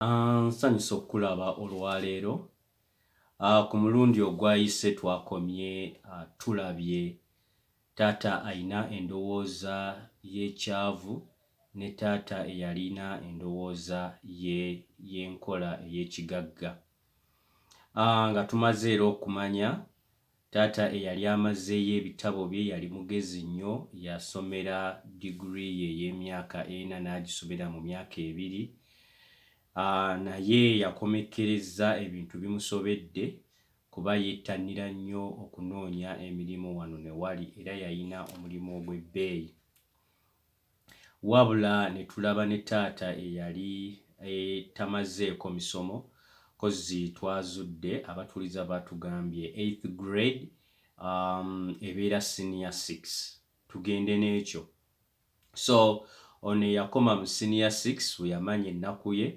Ah, nsanyusa okukulaba olwaleero ah, ku mulundi ogwayise twakomye ah, tulabye taata alina endowooza y'ekyavu ne taata eyalina endowooza y'enkola ey'ekigagga nga tumaze era okumanya Taata eyali amazzeeyo ebitabo bye yali mugezi nnyo. Yasomera diguli ye ey'emyaka ena n'agisomera mu myaka ebiri. Naye yakomekkerezza ebintu bimusobedde kuba yettannira nnyo okunoonya emirimu wano ne wali era yalina omulimu ogw'ebbeeyi. wabula ne tulaba ne taata eyali e, tamazzeeko misomo kozzi twazudde abatuuliza baatugambye eighth grade um, ebeera senior six tugende n'ekyo so ono eyakoma mu senior six we yamanya ennaku ye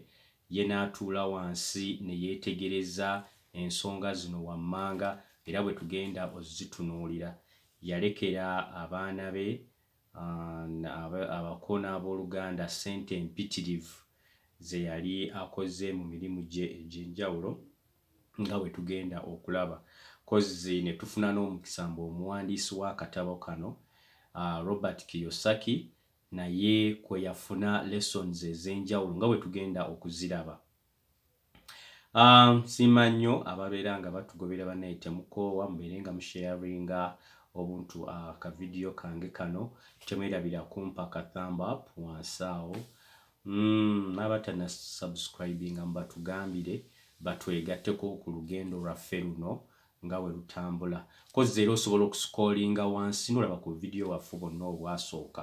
ye n'atuula wansi ne yeetegereza ensonga zino wammanga era bwe tugenda ozitunuulira yalekera abaana be abako n'abooluganda ssente mpitirivu ze yali akoze mu mirimu gye egy'enjawulo nga bwe tugenda okulaba kozzi ne tufuna n'omukisa mbu omuwandiisi w'akatabo kano Robert Kiyosaki naye kwe yafuna lessons ez'enjawulo nga bwe tugenda okuziraba. Um, siima nnyo ababeera nga batugobera banaye temukoowa mubeere nga musharinga obuntu uh, ah, ka vidiyo kange kano temwerabira kumpa ka thumb up wansi awo mm, nabatana subscribinga mubatugambire batwegatteko ku lugendo lwaffe luno nga we lutambula kozi era osobola okusikolinga wansi nolaba ku vidiyo waffe bonna obwasooka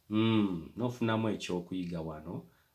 mm, nofunamu ekyokuyiga wano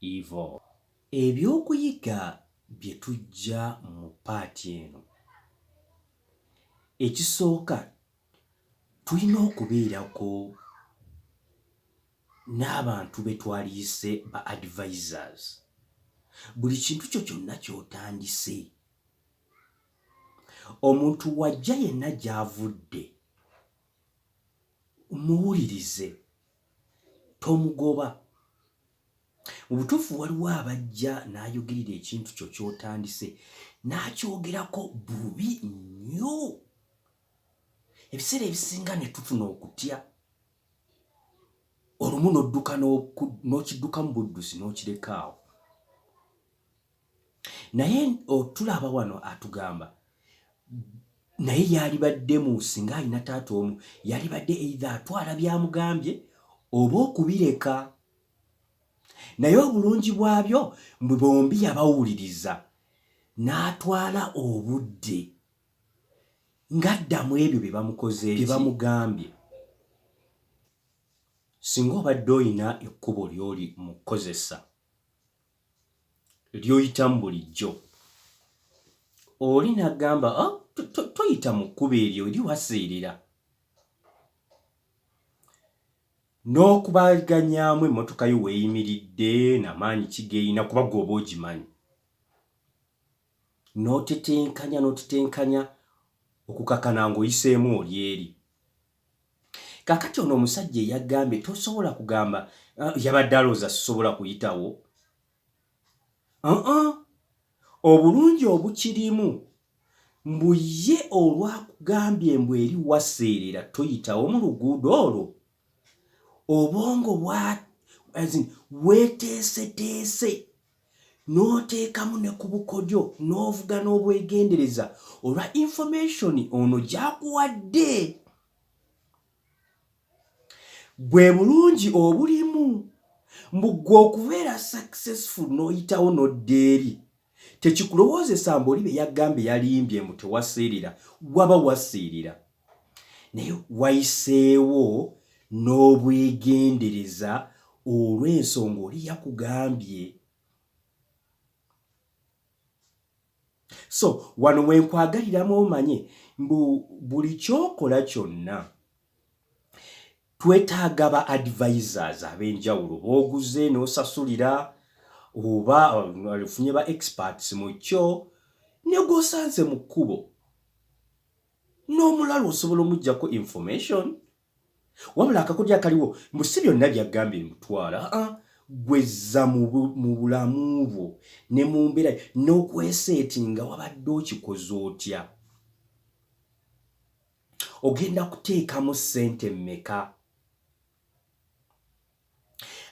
Evil. Ebyokuyiga bye tujja mu part eno, ekisooka tulina okubeerako n'abantu be twaliyise ba advisers. Buli kintu kyo kyonna ky'otandise, omuntu w'ajja yenna gy'avudde muwulirize tomugoba. Mu butuufu waliwo abajja n'ayogerera ekintu kyo ky'otandise n'akyogerako bubi nnyo. Ebiseera ebisinga ne tufuna okutya olumu n'odduka n'okiddukamu buddusi n'okirekaawo. naye otulaba wano atugamba naye yalibadde mu singa alina taata omu yalibadde eitha atwala byamugambye oba okubireka naye obulungi bwabyo mbu bombi yabawuliriza n'atwala obudde ng'addamu ebyo bye bamukoze bye bamugambye singa obadde olina ekkubo ly'oli mu kukozesa ly'oyitamu bulijjo oli n'agamba ah, toyita mu kkubo eryo eri waseerera n'okubaganyaamu emmotoka yo weeyimiridde namaanyi kigeyina kuba gwoba ogimanyi n'otetenkanya n'otetenkanya okukakana ng'oyiseemu oli eri kakati ono omusajja eyagambye tosobola kugamba uh, yabadde alowooza sisobola kuyitawo uh -uh. obulungi obukirimu mbu ye olwakugambye mbu eri waseerera toyitawo mu luguudo olwo obwongo bwa weteeseteese n'oteekamu ne ku bukodyo n'ovuga n'obwegendereza olwa information ono gyakuwadde. Bwe bulungi obulimu mbu gwe okubeera successful n'oyitawo n'odda eri tekikulowoozesa mbu oli bye yagambye yalimbye mbu tewaseerera waba waseerera. naye wayiseewo n'obwegendereza olw'ensonga oli yakugambye so wano wenkwagaliramu omanye mbu buli kyokola kyonna twetaaga ba advisors ab'enjawulo booguze n'osasulira oba ofunye ba experts mu kyo ne gwosanze mu kkubo n'omulalu osobola omujjako information wabula akakodyo akaliwo mbu si byonna byaggambye mutwala aa ah, gwezza mu bulamu bwo ne mu mbeera n'okweseeti nga wabadde okikoze otya ogenda kuteekamu ssente mmeka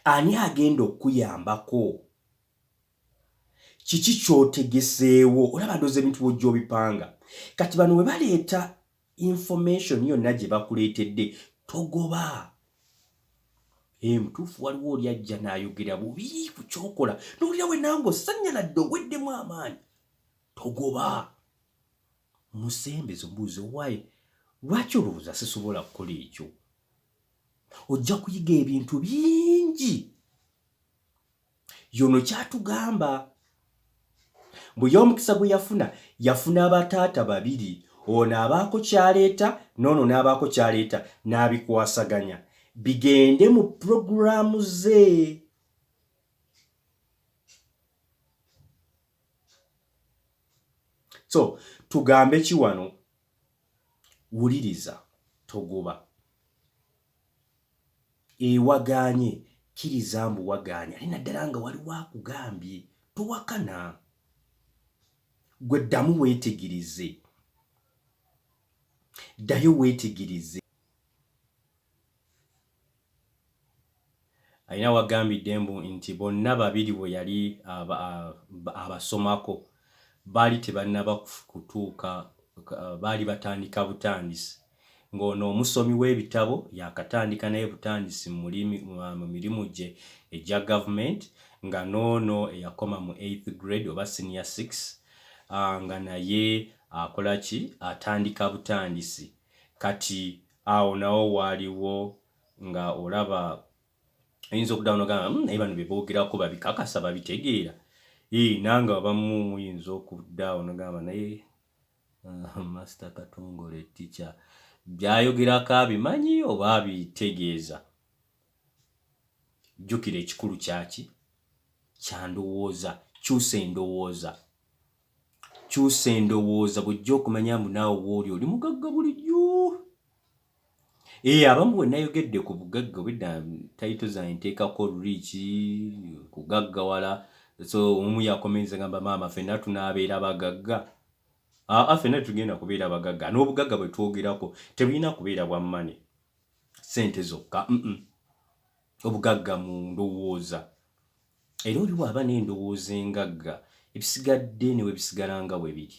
ani agenda okukuyambako kiki kyotegeseewo olaba ndoza ebintu bwojja obipanga kati bano bwe baleeta information yonna gye bakuleetedde togoba emutuufu eh, waliwo oli ajja n'ayogera bubi ku kyokola nowulira we nange osanyaladde oweddemu amaanyi togoba musembeza omubuuzi owaye lwaki olowooza sisobola kukola ekyo ojja kuyiga ebintu bingi yono kyatugamba mbu yomukisa gwe yafuna yafuna abataata babiri ono abaako kyaleeta noono n'abaako kyaleeta n'abikwasaganya bigende mu program ze. So tugambe ki wano wuliriza togoba. Eeh wagaanye, kkiriza mbu wagaanye ate naddala nga waliwo akugambye. Towakana. Ggwe ddamu weetegereze. Ddayo weetegereze. Alina wagambidde mbu nti bonna babiri we yali abasomako baali tebannaba kutuuka baali batandika butandisi ng'ono omusomi w'ebitabo yaakatandika naye butandisi mu mirimu gye egya gavumenti nga n'ono eyakoma mu eighth grade oba senior six nga naye akola ki atandika butandisi kati awo nawo waaliwo nga olaba oyinza okuddawo nogamba hmm, naye bano bebogerako babikakasa babitegeera ee nange abamu muyinza okuddaawo nogamba naye ah, master katongole ticha byayogerako abimanyi oba abitegeeza jjukira ekikulu kyaki kyandowooza kyusa endowooza kyusa endowooza bwejja okumanya mbu naawe wooli oli mugagga bulijjo Eh, abamu wenayogedde ku bugagga obedda tayito zange nteekako oluliiki kugaggawala so omu yakomenza gamba maama fenna tunaabeera bagagga aa ah, ah, fenna tugenda kubeera bagagga n'obugagga bwe twogerako tebulina kubeera bwa mmane ssente zokka obugagga mu ndowooza era oli waaba n'endowooza engagga ebisigadde newe bisigala nga bwe biri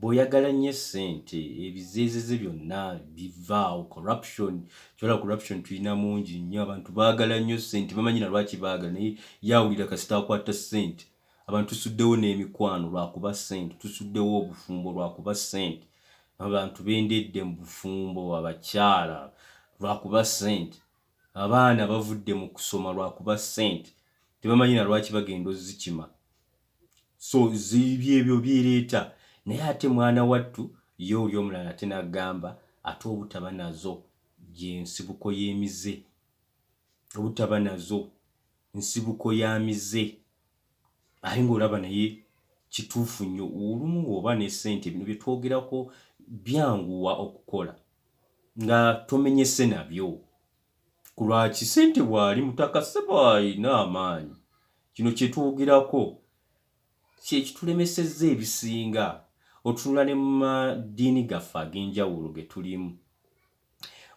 bwoyagala nnyo essente ebizeezeze byonna bivaawo corruption kyola corruption tulina mungi nnyo abantu baagala nnyo ssente bamanyi na lwaki baagala naye yawulira kasita akwata ssente abantu tusuddewo n'emikwano lwakuba ssente tusuddewo obufumbo lwakuba ssente abantu bendedde mu bufumbo abakyala lwakuba ssente abaana bavudde mu kusoma lwakuba ssente tebamanyi na lwaki bagenda ozikima so byebyo byereta naye ate mwana wattu ye oli omulala ate nagamba ate obutaba nazo gye nsibuko yemize obutaba nazo nsibuko ya mize aye ngaolaba naye kituufu nnyo olumu oba ne sente bino byetwogerako byanguwa okukola nga tomenyese nabyo Ku lwa ki? Ssente bw'ali mutaka ssebo alina amaanyi. Kino kye twogerako kye kitulemesezza ebisinga. Otunula ne mu madiini gaffe ag'enjawulo ge tulimu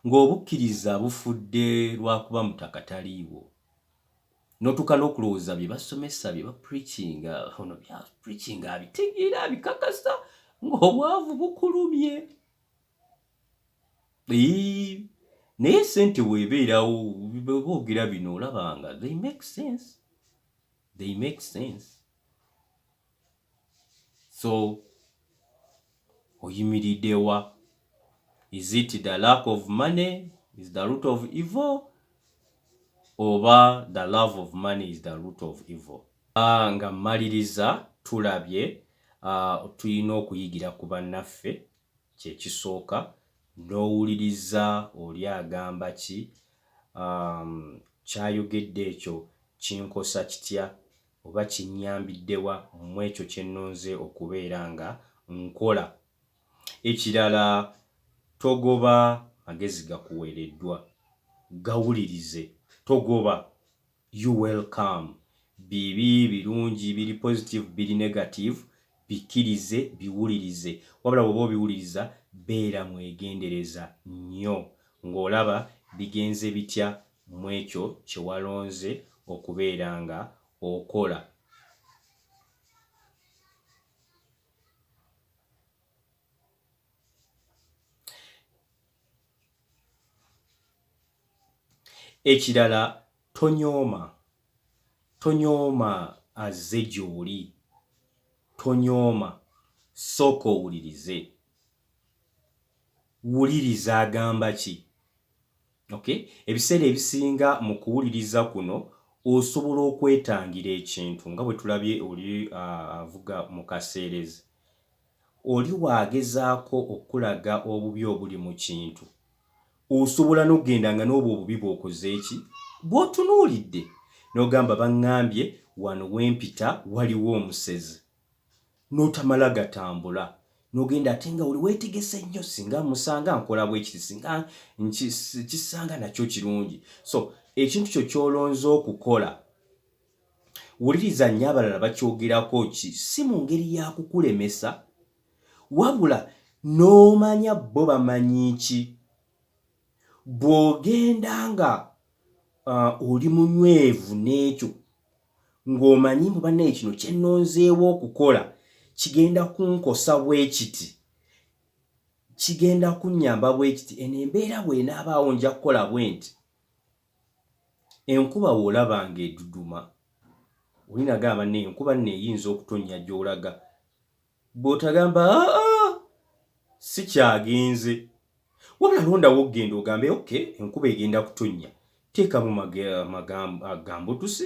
ng'obukkiriza bufudde lwa kuba mutaka taliiwo n'otuuka n'okulowooza bye basomesa bye bapreachinga ono by'apreachinga abitegeera abikakasa ng'obwavu bukulumye. Eii, naye sente webeerawo boogera bino olaba nga they make sense they make sense so oyimiridewa is it the lack of money is the root of evil oba the love of money is the root of evil ah, nga mmaliriza tulabye ah, tulina okuyigira ku bannaffe kye kisooka n'owuliriza oli agamba ki, um, ky'ayogedde ekyo kinkosa kitya oba kinnyambidde wa mu ekyo kye nnonze okubeera nga nkola. Ekirala, togoba magezi gakuweereddwa. Gawulirize. Togoba. You well come bibi birungi biri positive biri negative bikirize biwulirize wabula bwoba obiwuliriza beera mwegendereza nyo nga olaba bigenze bitya mwekyo kyewalonze okubeera nga okola. ekirala tonyooma tonyooma azze gy'oli tonyooma sooka owulirize wuliriza agamba ki okay ebiseera ebisinga mu kuwuliriza kuno osobola okwetangira ekintu nga bwe tulabye oli avuga mu kaseerezi Oli bw'agezaako okukulaga obubi obuli mu kintu, osobola n'okugenda nga n'obwo obubi bw'okoze ki? Bw'otunuulidde. N'ogamba, Bangambye wano we mpita waliwo omusezi. N'otamala gatambula. N'ogenda ate nga oli weetegese nnyo, Ssinga mmusanga nkola bwe kiti, ssinga nkisanga nakyo kirungi. So, ekintu kyo ky'olonze okukola. wuliriza nnyo abalala bakyogerako ki si mu ngeri ya kukulemesa wabula n'omanya bo bamanyi ki bw'ogenda nga uh, oli munywevu n'ekyo ng'omanyi mbu banaye kino kyennonzeewo okukola kigenda kunkosa bwe kiti kigenda kunnyamba bwe kiti eno embeera bw'enaabaawo nja kukola bwe nti Enkuba w'olaba ng'eduduma, oli nagamba banne eyo nkuba nno eyinza okutonnya gy'olaga. Bw'otagamba aa sikyagenze. Wabula londa w'okugenda ogambe okay enkuba egenda kutonnya. Teekamu amagambo, ah, gambutuse.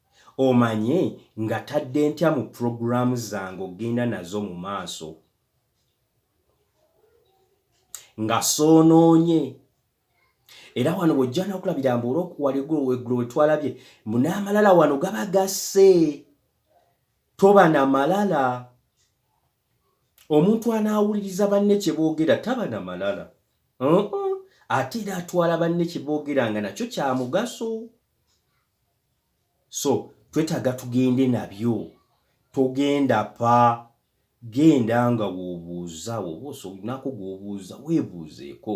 Omanye ngatadde ntya mu program zange okugenda nazo mu maaso nga soonoonye era wano bw'ojja n'okulabira mbu olwokuwala eggulo weggulo we twalabye mbu n'amalala wano gaba gasse toba na malala omuntu anaawuliriza banne kye boogera taba na malala ate era atwala banne kye boogera nga nakyo kya mugaso so twetaaga tugende nabyo togenda pa genda nga w'obuuza oba osobolinako gw'obuuza weebuuzeeko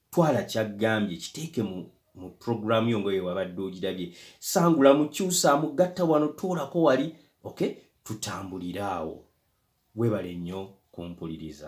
twala kyaggambye kiteeke mu mu program yo ngoye wabadde ogirabye sangula mukyusa mugatta wano tuulako wali okay tutambulire awo webale nnyo kumpuliriza